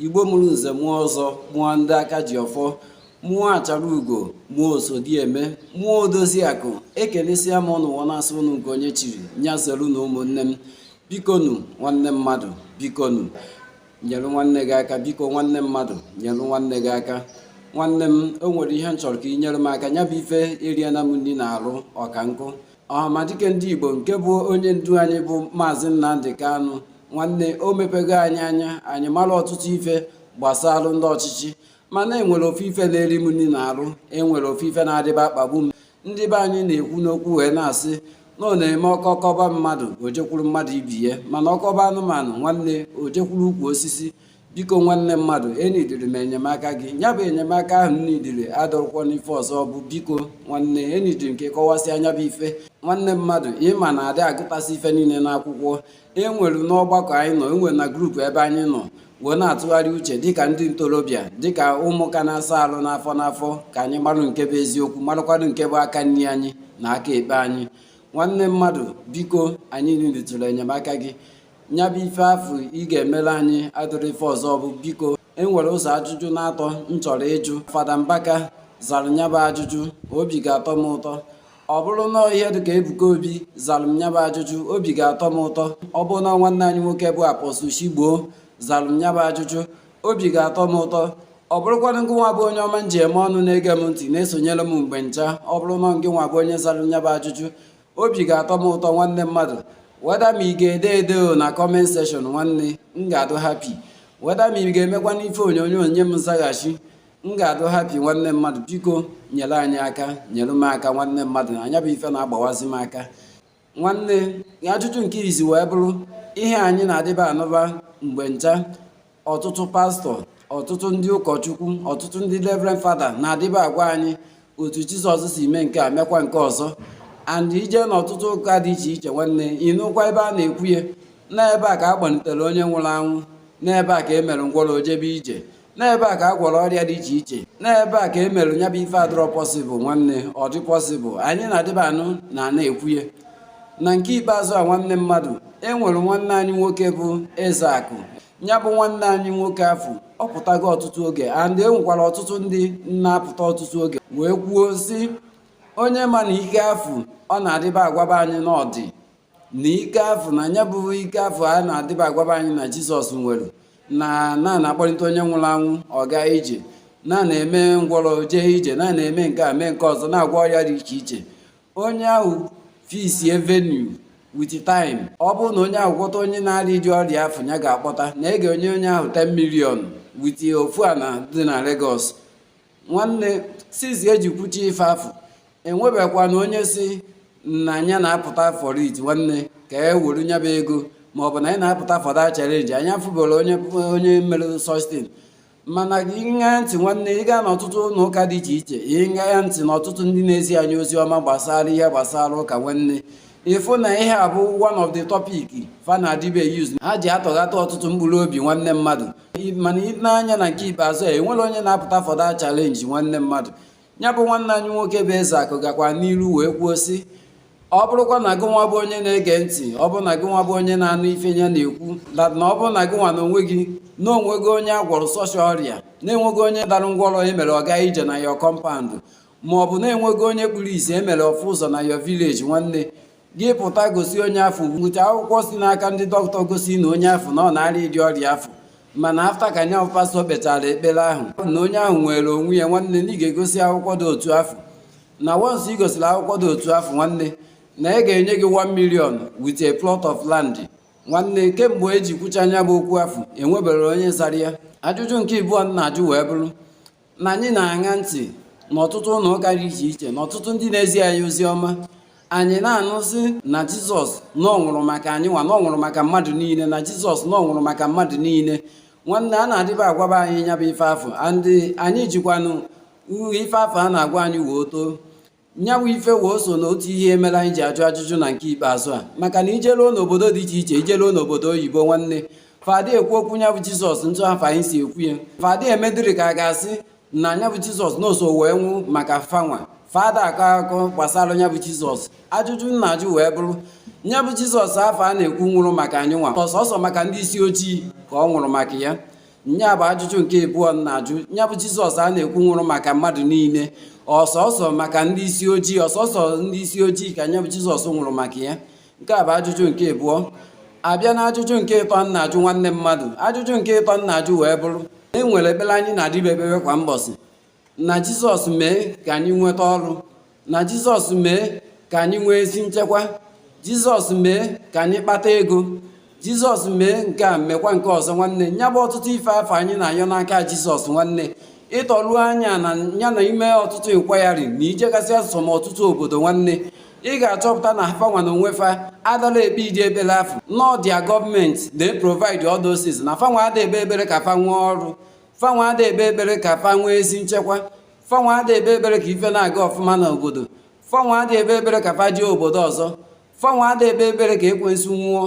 igbo mụrụ nze mụọ ọzọ mụọ ndị aka ji ọfọ mụọ achara ugo mụọ osodieme mụọ odozi akụ ekelesịa m ụnụ wee na-asị ụnụ nke onye chiri nya zelu na ụmụnne m bikonu nwanne mmadụ bikonu nyere nwanne gị aka biko nwanne mmadụ nyere nwanne gị aka nwanne m o nwere ihe m chọrọ ka ị nyere m aka nya bụ ife eriela m nri n'arụ ọka nkụ ọhamadike ndị igbo nke bụ onye ndu anyị bụ maazị nnamdi kanu nwanne o mepego anyị anya anyị mara ọtụtụ ife gbasara ndị ọchịchị mana e nwere ofu ife na-eri m nri n'arụ e nwere ofu ife na-adịba akpagbu m ndị be anyị na-ekwu n'okwu wee na-asị na ọ na-eme ọkọ kọba mmadụ o jekwuru mmadụ ibe ya mana ọ kọba anụmanụ nwanne o jekwuru ukwu osisi biko nwanne mmadụ enidiri m enyemaka gị ya bụ enyemaka ahụ m nidiri adịrọkwa n'ife ọzọ bụ biko nwanne enidiri m ka ị kọwasịa nya bụ ife nwanne mmadụ ị ma na a dị agụtasị ife niile n'akwụkwọ e nwere n'ọgbakọ anyị nọ e nwere na grupu ebe anyị nọ wee na-atụgharị uche dịka ndị ntorobịa dịka ụmụaka na-asa arụ n'afọ n'afọ ka anyị marụ nke bụ eziokwu marakwanụ nke bụ aka nri anyị na aka ekpe anyị nwanne mmadụ biko anyị niditụrụ enyemaka gị nya bụ ife afụ ị ga-emere anyị adịrọ ife ọzọ bụ biko e nwere ụzọ ajụjụ n'atọ m chọrọ ịjụ fada mbaka zara m nya bụ ajụjụ obi ga-atọ m ụtọ ọ bụrụ na ihe dịka ebuka obi zara m nya bụ ajụjụ obi ga-atọ m ụtọ ọ bụrụ na nwanne anyị nwoke bụ apọsụl chigbo zara m nya bụ ajụjụ obi ga-atọ m ụtọ ọ bụrụkwanụ ngị nwa bụ onye ọma m ji eme ọnụ na-ege m ntị na-esonyere m mgbe ncha ọ bụrụ na ngị nwa bụ onye zara m nya bụ ajụjụ obi ga-atọ m ụtọ nwanne mmadụ weda ma ị ga-ede ede na kọment seshọn nwanne m ga-adụ hapi weda ma ị ga-emekwa n'ife onyonyo nye m nzaghachi m ga-adụ hapi nwanne mmadụ biko nyere anyị aka nyere m aka nwanne mmadụ nya bụ ife na-agbawazi m aka nwanne ajụjụ nke izi wee bụrụ ihe anyị na-adịba anụba mgbe ncha ọtụtụ pastọ ọtụtụ ndị ụkọchukwu ọtụtụ ndị reverend fada na-adịba agwa anyị otu jizọs si mee nke a mekwa nke ọzọ and i jee n'ọtụtụ ụka dị iche iche nwanne ị nụkwa ebe a na-ekwu ya n'ebe a ka a kpọlitere onye nwụrụ anwụ n'ebe a ka e mere ngwọrọ o jebe ije n'ebe a ka a gwọrọ ọrịa dị iche iche n'ebe a ka e mere nya bụ ife adịrọ pọsịbụl nwanne ọ dị pọsịbụl anyị na-adịba anụ na a na-ekwu ya na nke ikpeazụ a nwanne mmadụ e nwere nwanne anyị nwoke bụ ezeakụ ya bụ nwanne anyị nwoke afụ ọ pụtago ọtụtụ oge and e nwekwara ọtụtụ ndị na-apụta ọtụtụ oge wee kwuo sị onye ma na ike afụ ọ na-adịba agwaba anyị na ọ dị na ike afụ na nya bụ ike afụ a na-adịba agwaba anyị na jizọs nwere na na-akpọlite onye nwụrụ anwụ ọ gaa ije na na-eme ngwọrọ jee ije na na-eme nke a mee nke ọzọ na-agwọ ọrịa dị iche iche onye ahụ fisie venue with time ọ bụrụ na onye ahụ gwọta onye na-arịa ụdị ọrịa afụ nya ga-akpọta na e nye onye onye ahụ 10 million with ofu ana dị na Lagos nwanne since e ji kwucha ife afụ enwebekwana onye sị na nya na-apụta for it nwanne ka e were nya bụ ego maọbụ na anyị na-apụta for that challenge anyị afụbụrọ onye mere such thing mana ị ṅaa ntị nwanne ị gaa n'ọtụtụ ụlọ ụka dị iche iche ị ṅaa ntị na ọtụtụ ndị na-ezi anyị ozi ọma gbasara ihe gbasara ụka nwanne ị fụ na ihe a bụ one of the topic fa na-adịbe use ha ji atọghata ọtụtụ mkpụrụ obi nwanne mmadụ mana ị nee anya na nke ikpeazụ a enwerọ onye na-apụta for that challenge nwanne mmadụ ya bụ nwanne anyị nwoke bụ Ezeakụ gakwa n'iru wee kwuo sị ọ bụrụkwa na gịnwa bụ onye na-ege ntị ọ bụrụ na gịnwa bụ onye na-anụ ife nya na-ekwu na ọ bụrụ na gịnwa na onwe gị na onwego onye a gwọrọ such ọrịa na-enwego onye dara ngwọrọ e mere ọ gaa ije na your compound ma ọ bụ na-enwego onye kpuru isi e mere ọ fụ ụzọ na your village nwanne gị pụta gosi onye afụ weta akwụkwọ si n'aka ndị dọkịta gosi na onye afụ na ọ na-arịa ụdị ọrịa afụ mana after ka nya bụ pastọ kpechara ekpere ahụ na onye ahụ nwere onwe ya nwanne na ị ga-egosi akwụkwọ dị otu afụ na once ị gosiri akwụkwọ dị otu afụ nwanne na e ga-enye gị 1 million with a plot of land nwanne kemgbe e ji kwucha nya bụ okwu afụ enweberọ onye zara ya ajụjụ nke ịbụọ m na-ajụ wee bụrụ na anyị na-aṅa ntị n'ọtụtụ ụlọ ụka dị iche iche na ọtụtụ ndị na-ezi anyị ozi ọma anyị na-anụzi na jizọs na ọ nwụrụ maka anyị nwa na ọ nwụrụ maka mmadụ niile na jizọs na ọ nwụrụ maka mmadụ niile nwanne a na-adịba agwaba anyị nya bụ ife afụ and anyị jikwanụ ife afụ a na-agwa anyị wee too nyabụ ife wee so na otu ihe mere anyị ji ajụ ajụjụ na nke ikpeazụ a maka na i jeruo n'obodo dị iche iche i jeruo n'obodo oyibo nwanne fa ada ekwu okwu nyabụ jizọs etu afụ anyị si ekwu ya fa ada emedịrị ka a ga-asị na nyabụ jizọs na o so wee nwụ maka fanwa fa ada akọ akọ gbasara nyabụ jizọs ajụjụ m na-ajụ wee bụrụ nyabụ jizọs afụ a na-ekwu nwụrụ maka anyị nwa ọ sọsọ maka ndị isi ojii ka ọ nwụrụ maka ya nya bụ ajụjụ nke ịbụọ m na-ajụ nya bụ jizọs a na-ekwu nwụrụ maka mmadụ niile ọ sọsọ maka ndị isi ojii ọ sọsọ ndị isi ojii ka nya bụ jizọs nwụrụ maka ya nke a bụ ajụjụ nke ịbụọ a bịa na ajụjụ nke ịtọ m na-ajụ nwanne mmadụ ajụjụ nke ịtọ m na-ajụ wee bụrụ e nwere ekpere anyị na-adịbe ekpebe kwa mbọsị na Jizọs mee ka anyị nweta ọrụ na Jizọs mee ka anyị nwee ezi nchekwa Jizọs mee ka anyị kpata ego Jizọs mee nke a mekwa nke ọzọ nwanne ya bụ ọtụtụ ife afụ anyị na-ayọ n'aka Jizọs nwanne ị tọlụ anya na ya na i mee ọtụtụ inquiry na i jegasịa some ọtụtụ obodo nwanne ị ga-achọpụta na fanwa na onwe fa adarọ ekpe ụdị ekpele afụ na ọ their government na-eprovide all those things na fanwa ada ekpe ekpere ka fa nwee ọrụ fanwa ada ekpe ekpere ka fa nwee ezi nchekwa fanwa ada ekpe ekpere ka ife na-aga ọfụma na obodo fanwa ada ekpe ekpere ka fa jee obodo ọzọ fanwa ada ekpe ekpere ka ekwensu nwụọ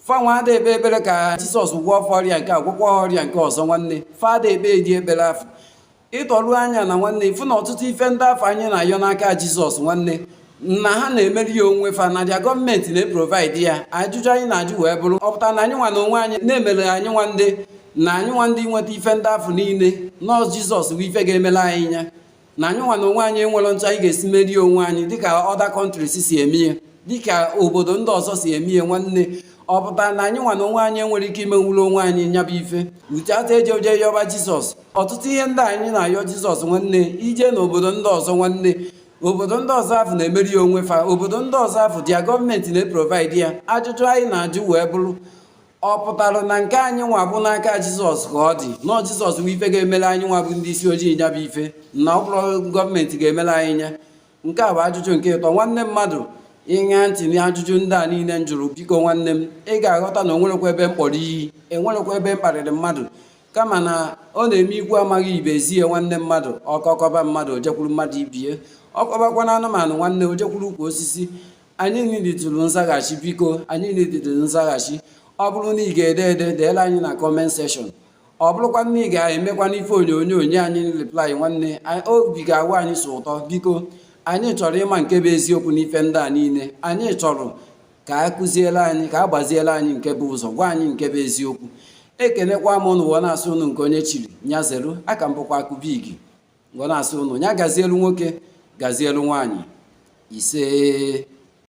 fanwa ada ekpe ekpere ka jizọs gwọọ fa ọrịa nke a gwọkwa ọrịa nke ọzọ nwanne fa ada ekpedi ekpere afụ ịtọrụ anya na nwanne ị fụ na ọtụtụ ife ndị afụ anyị na-ayọ n'aka jizọs nwanne na ha na-emere ya onwe fa na dia gọọmenti na-eprovaidi ya ajụjụ anyị na-ajụ wee bụrụ ọ pụtara na anyị nwa na onwe anyị na-emere anyị nwa ndị na anyị nwa ndị nweta ife ndị afụ niile na ọ sọ jizọs bụ ife ga-emere anyị nya na anyị nwa na onwe anyị enwere etu anyị ga-esi mere ya onwe anyị dịka ọda kọntris si eme ya dịka obodo ndị ọzọ si eme ya nwanne ọ pụtara na anyị nwa na onwe anyị enwere ike imenwuru onwe anyị nyabụ ife ucheata eje o jee yọba jizọs ọtụtụ ihe ndị anyị na-ayọ jizọs nwanne i jee n'obodo ndị ọzọ nwanne obodo ndị ọzọ afụ na-emere ya onwe fa obodo ndị ọzọ afụ dia gọọmenti na-eprovaidi ya ajụjụ anyị na-ajụ wee bụrụ ọ pụtara na nke anyị nwa bụ n'aka jizọs ka ọ dị na ọ jizọs bụ ife ga-emere anyị nwa bụ ndị isi ojii nya bụ ife na ọ bụrọ gọọmenti ga-emere anyị nya nke a bụ ajụjụ nke ịtọ nwanne mmadụ ị ṅa ntị na ajụjụ ndị a niile m jụrụ biko nwanne m ị ga-aghọta na enwerekwa ebe m kpọrọ iyi enwerekwa ebe m kparịrị mmadụ kama na ọ na-eme ikwu amaghị ibe ezie nwanne mmadụ ọkọ kọba mmadụ o jekwuru mmadụ ibe ya ọ kọbakwanụ anụmanụ nwanne o jekwuru ukwu osisi anyị niditụrụ nzaghachi biko anyị niditụrụ nzaghachi ọ bụrụ na ị ga-ede ede deela anyị na kọment sekshọn ọ bụrụkwa na ị ga-emekwa n'ife onyonyo nye anyị replai nwanne obi ga-awụ anyị sọ ụtọ biko anyị chọrọ ịma nke bụ eziokwu n'ife ndị a niile anyị chọrọ ka a kụziere anyị ka a gbaziere anyị nke bụ ụzọ gwa anyị nke bụ eziokwu ekenekwa m ụnụ wee na-asị ụnụ nke onye chiri nya zelu a ka m bụkwa akụbigi wee na-asị ụnụ nya gazielu nwoke gazielu nwaanyị ise